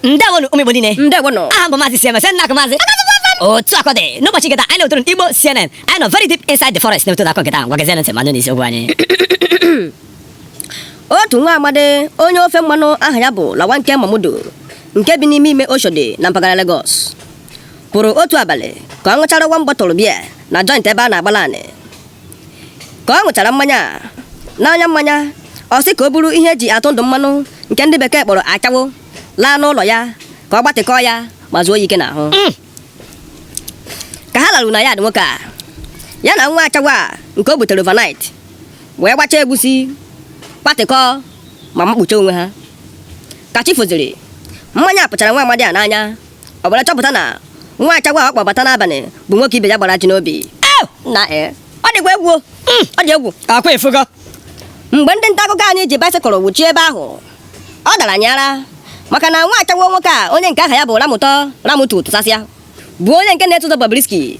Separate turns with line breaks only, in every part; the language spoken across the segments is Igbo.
ndewonụ ụmụ igbo niile ndewonụ aha m bụ maazị cms nna maazị otu akọ dị n'ụbọchị nketa anyị na-etoro igbo cnn anyị nọ very deep inside the forest na-eto akọ nketa ngwa gezienụ ntị manụ n'isi okwu anyị otu nwa amadi onye ofe mmanụ aha ya bụ Lawanke Mamudu nke bi n'ime ime Oshodi na mpaghara Lagos pụrụ otu abalị ka ọ ṅụchara one bottle beer na joint ebe a na-agbala anị ka ọ ṅụchara mmanya a n'anya mmanya ọ sị ka o buru ihe e ji atụ ndụ mmanụ nke ndị bekee kpọrọ ashawo laa n'ụlọ ya ka ọ gbatịkọọ ya ma zuo ya ike n'ahụ mm. ka ha laru na yard nwoke a ya na nwa ashawo a nke o butere overnight wee gbachaa egwusi gbatịkọọ ma makpuche onwe ha ka chi foziri mmanya pụchara nwa amadi a n'anya ọ bịara chọpụta na nwa ashawo ọ kpọbata n'abalị bụ nwoke ibe ya gbara ajị n'obi nna e ọ dịkwa egwu o. Mm, ọ dị egwu akwa efugo mgbe ndị nta akụkọ anyị ji baịsịkụl wuchie ebe ahụ ọ dara anyị ara maka na nwa ashawo nwoke a onye nke aha ya bụ ramụtọ ramụtu tụsasịa bụ onye nke na-eso ụzọ Bobrisky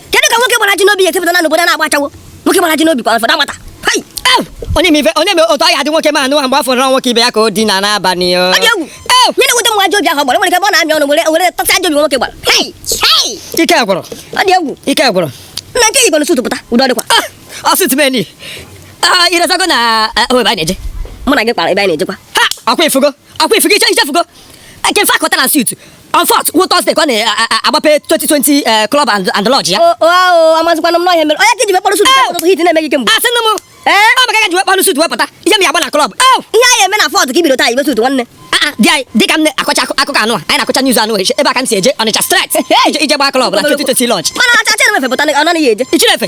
kedu ka nwoke gbara ajị n'obi ga-esi pụta na n'obodo na-agba ashawo nwoke gbara ajị n'obi kwa fọdụ agbata Hai! Ew! onye ma ife onye ma otu ọ ya adị nwoke ma anụ mgbe ọ fụrụ na ọ nwoke ibe ya ka o dina n'abalị o. Ọ dị egwu Ew! ife na-ewute m ajị obi ahụ ọ gbara o nwere ike ebe ọ na-amị ọnụ were were touch ajị obi nwoke gbara Hai! Hai! ike gwụrụ ọ dị egwu ike gwụrụ nna nke i yigoro suit pụta udo dịkwa Ah, ọ suit m yi Ah, iresago na ah, ebe anyị na-eje mụ na gị kpara ebe anyị na-ejekwa ha ọkwa ifugo ọkwa ifugo iche ichefugo eke mfe akọta na suit on fourth wụ Thursday ka ọ na-agbape 2020 eh, club and and lodge ya amazikwana m na ọ ihe a mere onye ka i ji wee kpọrọ suit ụtụtụ heat na-eme gị kemgbe asị nụ m ee ọ maka ka i ji wee kpọrọ suit wee pụta ihe m ya agba na club oh! ihe anyị eme na fourth ka i bido taa yibe suit nwanne ah, ah, di anyị dịka m na-akọcha akụkọ ahụ anyị na-akọcha news ahụ ebe a ka m si eje Ọnịcha straight ije gbaa club na 2020 lounge mana acha chere mefe pụta ọ naghị eje ichinefe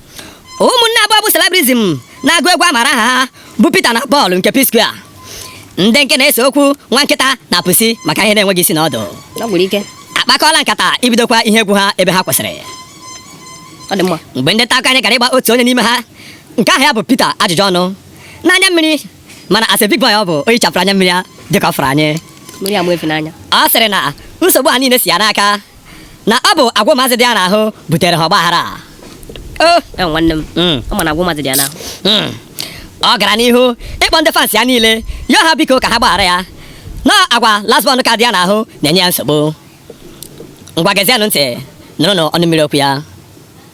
ụmụnne abụọ bụ celebrities na-agụ egwu amara aha ha bụ Peter na Paul nke P-Square ndị nke na-ese okwu nwa nkịta na pusi maka ihe na-enweghị isi na ọdụ Ọ gwụrụ ike. akpakọọla nkata ibidokwa ihe egwu ha ebe ha kwụsịrị Ọ dị mma. mgbe ndị nta akụkọ anyị gara ịgba otu onye n'ime ha nke aha ya bụ Peter ajụjụ ọnụ n'anya mmiri mana as a big boy ọ bụ o hichapụrụ anya mmiri ya dịka ọ fụrụ anyị Mmiri ama efi n'anya. ọ sịrị na nsogbu a niile si ya n'aka na ọ bụ agwa ụmụazị dị ya n'ahụ butere ha ọgbaghara a. O, e nwanne m Mm. ọ ma na agwa mmadụ dị ya n'ahụ Mm. ọ gara n'ihu ịkpọ ndị fans ya niile yọọ ha biko ka ha gbaghara ya na agwa last born ka dị ya n'ahụ na-enye ya nsogbu ngwa gezienụ ntị nụrụnụ ọnụ mmiri okwu ya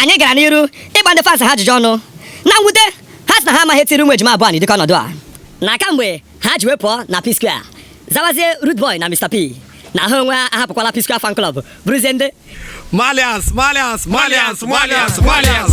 anyị gara n'iru ịgba ndị fans ha ajụjụ ọnụ na mwute ha sị na ha amaghị ihe tiri ụmụ ejima abụọ dịka ọnọdụ a na kamgbe ha ji wee pụọ na P Square zawazie Rudeboy na Mr P na ha onwe ha ahapụkwala P Square fan club bụrụzie ndị Marlians.